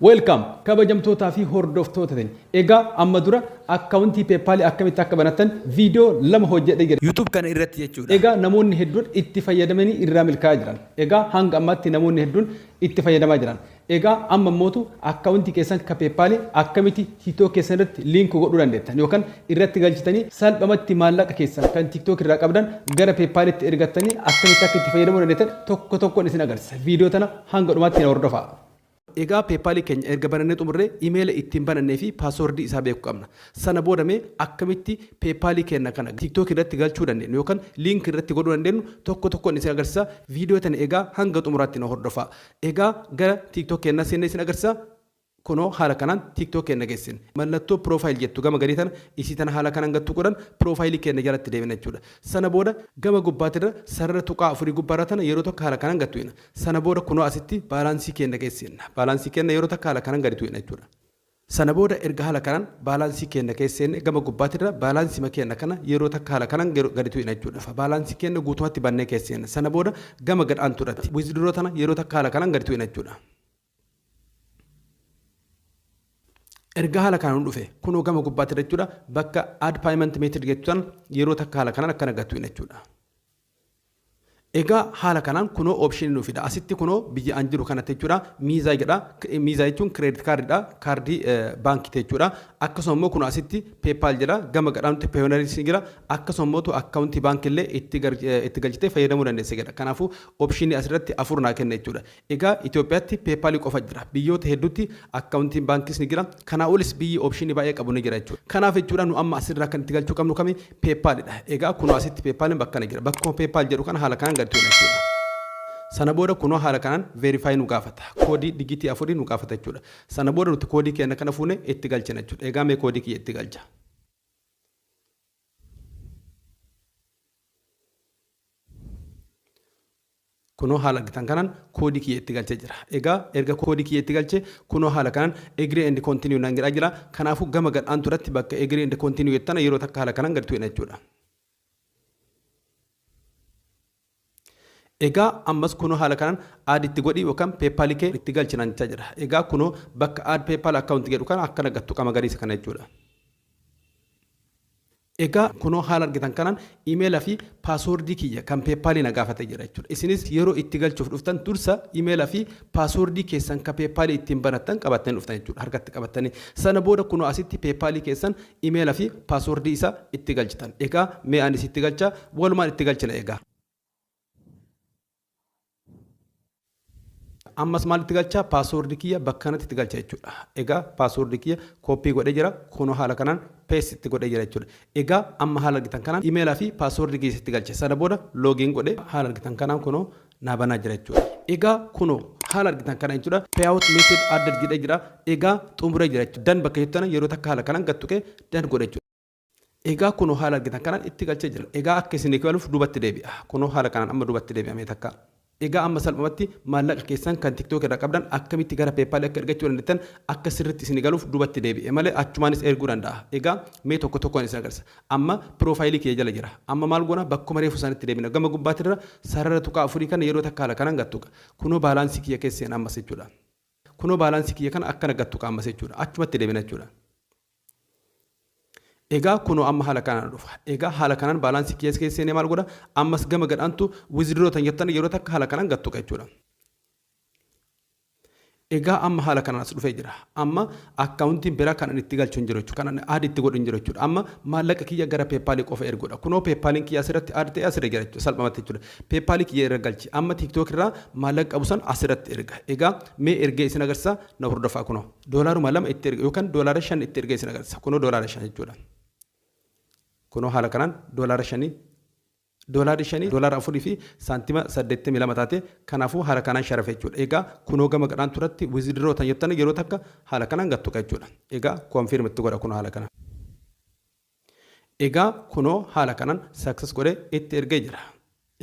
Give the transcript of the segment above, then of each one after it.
Welcome kabajamtootaa fi hordoftoota tenya. Egaa amma dura akkaawuntii peepaalii akkamitti akka banattan viidiyoo lama hojjedhee jira. YouTube kana irratti jechuudha. Egaa namoonni hedduun itti fayyadamanii irraa milkaa'aa jiran. Egaa hanga ammaatti namoonni hedduun itti fayyadamaa jiran. Egaa amma immootu akkaawuntii keessan ka peepaalii akkamitti TikTok keessan irratti liink godhuu dandeettan yookaan irratti galchitanii salphamatti maallaqa keessan kan TikTok irraa qabdan gara peepaalitti ergattanii akkamitti akka itti fayyadamuu dandeettan tokko tokkoon isin agarsiisa. Viidiyoo tana hanga dhumaatti na hordofaa. Egaa PayPal keenya erga banannee xumurree emaila ittiin banannee fi password isaa beeku qabna. Sana booda mee akkamitti PayPal keenna kana TikTok irratti galchuu dandeennu yookan link irratti godhuu dandeennu tokko tokkon isin agarsiisa. Video tana egaa hanga xumuraatti na hordofaa. Egaa gara TikTok keennaa seennee isin agarsiisa. Kunoo haala kanaan TikTok keenna geessine. Mallattoo profile jettu gama gadii tana isii tana haala kanaan gad tuquudhan profile keenna jalatti deebina jechuudha. Sana booda gama gubbaatirra sarara tuqaa afurii gubbaarra tana yeroo tokko haala kanaan gad tuqina. Sana booda kunoo asitti baalaansii keenna keesseenna. Baalaansii keenna yeroo takka haala kanan gadi tu'ina jechuudha. Sana booda erga haala kanan baalaansii keenna keesseenne gama gubbaatirra baalaansima keenna kana yeroo takka haala kanan gadi tu'ina jechuudha. Fa baalaansii keenna guutumatti bannee keesseenna. Sana booda gama gad aantuurratti withdraw tana yeroo takka haala kanan gadi tu'ina jechuudha. erga haala kanaan dhufe kunoo gama gubbaatti jechuudha bakka add payment method jettu san yeroo takka haala kanaan akkana gattu jechuudha. Egaa haala kanaan kunoo option nu fida asitti kunoo biyya an jiru kanatti jechuudha miizaa jedha miizaa jechuun credit card dha kaardii baankii jechuudha akkasuma immoo kunoo asitti PayPal jedha gama gadhaanutti Payoneeris ni jira akkasuma immoo akkaawuntii baankii illee itti galchitee fayyadamuu dandeessa jedha kanaafuu option asirratti afur naa kenna jechuudha Egaa Itoophiyaatti PayPal qofa jira. Biyyoota hedduutti Account'n Baankiis ni jira. Kanaa olis biyyi option baay'ee qabu ni jira jechuudha. Kanaaf jechuudha nu amma asirraa kan itti galchuu qabnu kami? PayPal dha. Egaa kunoo asitti PayPal'n bakkana jira. Bakkuma PayPal jedhu kana haala kanaan gad tuqna jechuudha. Sana booda kunoo haala kanaan Verify nu gaafata. Koodii digiitii afurii nu gaafata jechuudha. Sana booda nuti koodii keenya kana fuunee itti galchina jechuudha. Egaa mee koodii kiyya itti galcha. Kunoo haala argitan kanan koodii kiyya itti galchee jira. Egaa erga koodii kiyya itti galche kunoo haala kanan agree and continue naan jedhaa jira. Kanaafuu gama gad aantu irratti bakka agree and continue jettu tana yeroo takka haala kanan gad tuqina jechuudha. Egaa ammas kunoo haala kanan add itti godhi yookaan PayPal kee itti galchi naan jechaa jira. Egaa kunoo bakka add PayPal account jedhu kana akkana gad tuqa magariisa kana jechuudha. Egaa kunoo haala argitan kanaan email fi password kiyya kan paypal na gaafatee jira jechuudha. Isinis yeroo itti galchuuf dhuftan dursa email fi password keessan ka paypal ittiin banattan qabattanii dhuftan jechuudha. Harkatti qabattanii. Sana booda kunoo asitti paypal keessan email fi password isaa itti galchitan. Egaa mee anis itti galchaa walumaan itti galchina egaa. ammas maal itti galchaa paaswoordi kiyya bakka kanatti itti galcha jechuudha egaa paaswoordi kiyya kooppii godhee jira kunoo haala kanaan pees itti godhee jira jechuudha egaa amma haala argitan kanaan imeelaa fi paaswoordi kiyya itti galche sana booda loogiin godhe haala argitan kanaan kunoo naa banaa jira jechuudha egaa kunoo haala argitan kana jechuudha payout method added jedhee jira egaa xumuree jira jechuudha dan bakka jettana yeroo takka haala kanaan gattuqee dan godhe jechuudha Egaa kunoo haala argitan kanaan itti galchee jira. Egaa akka isinii galuuf dubatti deebi'a. Kunoo haala kanaan amma dubatti deebi'a mee takka. Egaa amma salphumatti maallaqa keessan kan TikTok irraa qabdan akkamitti gara PayPal akka ergachuu dandeettan akka sirriitti isinii galuuf dubatti deebi'e malee achumaanis erguu danda'a. Egaa mee tokko tokkoon isin agarsiisa. Amma piroofaayilii kiyya jala jira. Amma maal goona bakkuma reefu sanitti deebina. Gama gubbaatirra sarara tuqaa afurii kana yeroo takka haala kanaan gad tuqa. Kunoo baalaansii kiyya keessa seena ammas jechuudha. Kunoo baalaansii kiyya kana akkana gad tuqa ammas jechuudha. Achumatti deebina jechuudha. Egaa kunoo amma haala kanaan dhufa. Egaa haala kanaan baalaansii kiyya keessa seenee maal godha? Ammas gama gadhaantu withdraw tan jettan yeroo takka haala kanaan gad tuqa jechuudha. Egaa amma haala kanaan as dhufee jira. Amma akkaawuntiin biraa kan ani itti galchu hin jiru jechuudha. Kan ani aad itti godhu hin jiru jechuudha. Amma maallaqa kiyya gara peepaalii qofa erguudha. Kunoo peepaaliin kiyya asirratti aad ta'e asirra jira jechuudha. Salphamatti jechuudha. Peepaalii kiyya irra galchi. Amma tiiktook irraa maallaqa qabu san asirratti erga. Egaa mee ergee isin agarsiisa na hordofaa kunoo. Doolaaruma lama itti erga yookaan doolaara shan itti ergee isin agarsiisa. Kunoo doolaara shan jechuudha. Kunoo haala kanaan doolaara shanii doolaarri shanii doolaara afurii fi saantima saddeettamii lama taate kanaafuu haala kanaan sharafe jechuudha. Egaa kunoo gama gadhaan turatti wizidiroo tan jettan yeroo takka haala kanaan gattuqa jechuudha. Egaa koonfiirmi itti godha kunoo haala kanaan. Egaa kunoo haala kanan success godhe itti ergee jira.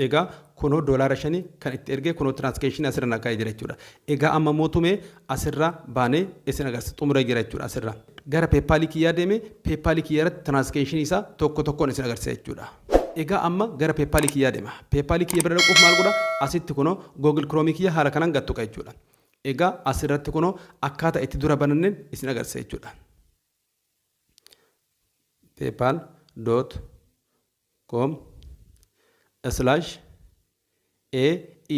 Egaa kunoo doolaara shani kan itti ergee kunoo transcationi asirra na kaa'ee jira jechuudha. Egaa amma mootu mee asirra baanee isin agarsiisa xumuree jira jechuudha asirra. Gara PayPal kiyyaa deeme PayPal kiyya irratti transcationi isaa tokko tokkoon isin agarsiisa jechuudha. Egaa amma gara PayPal kiyyaa deema. PayPal kiyya bira dhaquuf maal godha asitti kunoo Google Chrome kiyya haala kanan gad tuqa jechuudha. Egaa asirratti kunoo akkaata itti dura bananneen isin agarsiisa jechuudha. paypal dot com slash a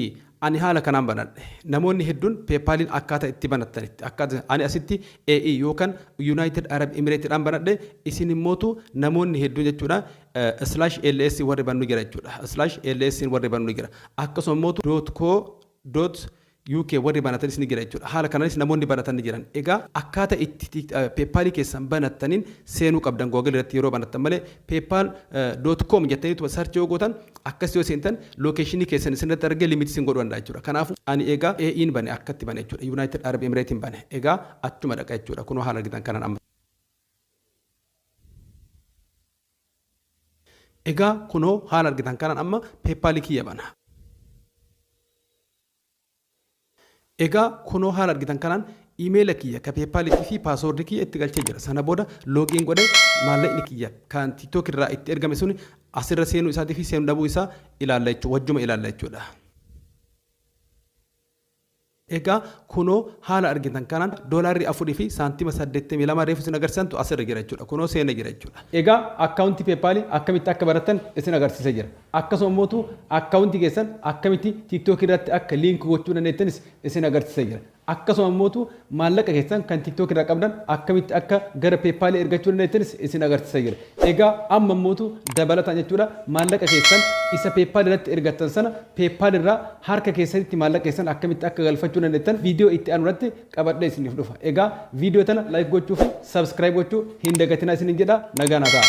e ani haala kanaan banadhe namoonni hedduun peepaaliin akkaataa itti banattanitti akkaataa ani asitti a e yookaan yuunaayitid arab imireetidhaan banadhe isin immootu namoonni hedduun jechuudha slash ls warri bannu jira jechuudha slash ls warri bannu jira akkasuma immootu dot co dot UK warri banatanis ni jira jechuudha. Haala kanaanis namoonni banatan ni jiran. Egaa akkaata itti PayPal keessan banattanin seenuu qabdan Google irratti yeroo banattan malee PayPal dot com jettaniituma search yoo gootan akkasitti yoo seentan location keessan isinirratti argee limit isin godhuu danda'a jechuudha. Kanaafu ani egaa AE'n bane akkatti bane jechuudha. United Arab Emirate'n bane. Egaa achuma dhaqa jechuudha. Kunoo haala argitan kanaan amma. Egaa kunoo haala argitan kanaan amma PayPal kiyya bana. Egaa kunoo haala argitan kanaan email kiyya ka paypal tii fi password kiyya itti galchee jira sana booda login godhe maallaqni kiyya kan tiktok irraa itti ergame suni asirra seenuu isaatii fi seenuu dhabuu isaa ilaalla jechuu wajjuma ilaalla jechuudha. Egaa kunoo haala argitan kanaan doolaarri 4 fi saantima 82 reefu isin agarsiisantu asirra jira jechuudha kunoo seenee jira jechuudha. Egaa account paypal akkamitti akka baratan isin agarsiise jira. Akkasuma mootu account keessan akkamitti tiktok irratti akka link gochuu dandeettanis isin agarsiisa jira. Akkasuma mootu maallaqa keessan kan tiktok irraa qabdan akkamitti akka gara paypal ergachuu dandeettanis isin agarsiisa jira. Egaa amma mootu dabalataan jechuudha maallaqa keessan isa paypal irratti ergattan sana paypal irraa harka keessanitti maallaqa keessan akkamitti akka galfachuu dandeettan video itti aanu irratti qabadhee isiniif dhufa. Egaa video tana like gochuu fi subscribe gochuu hin dagatinaa isinin jedha nagaa naa ta'a.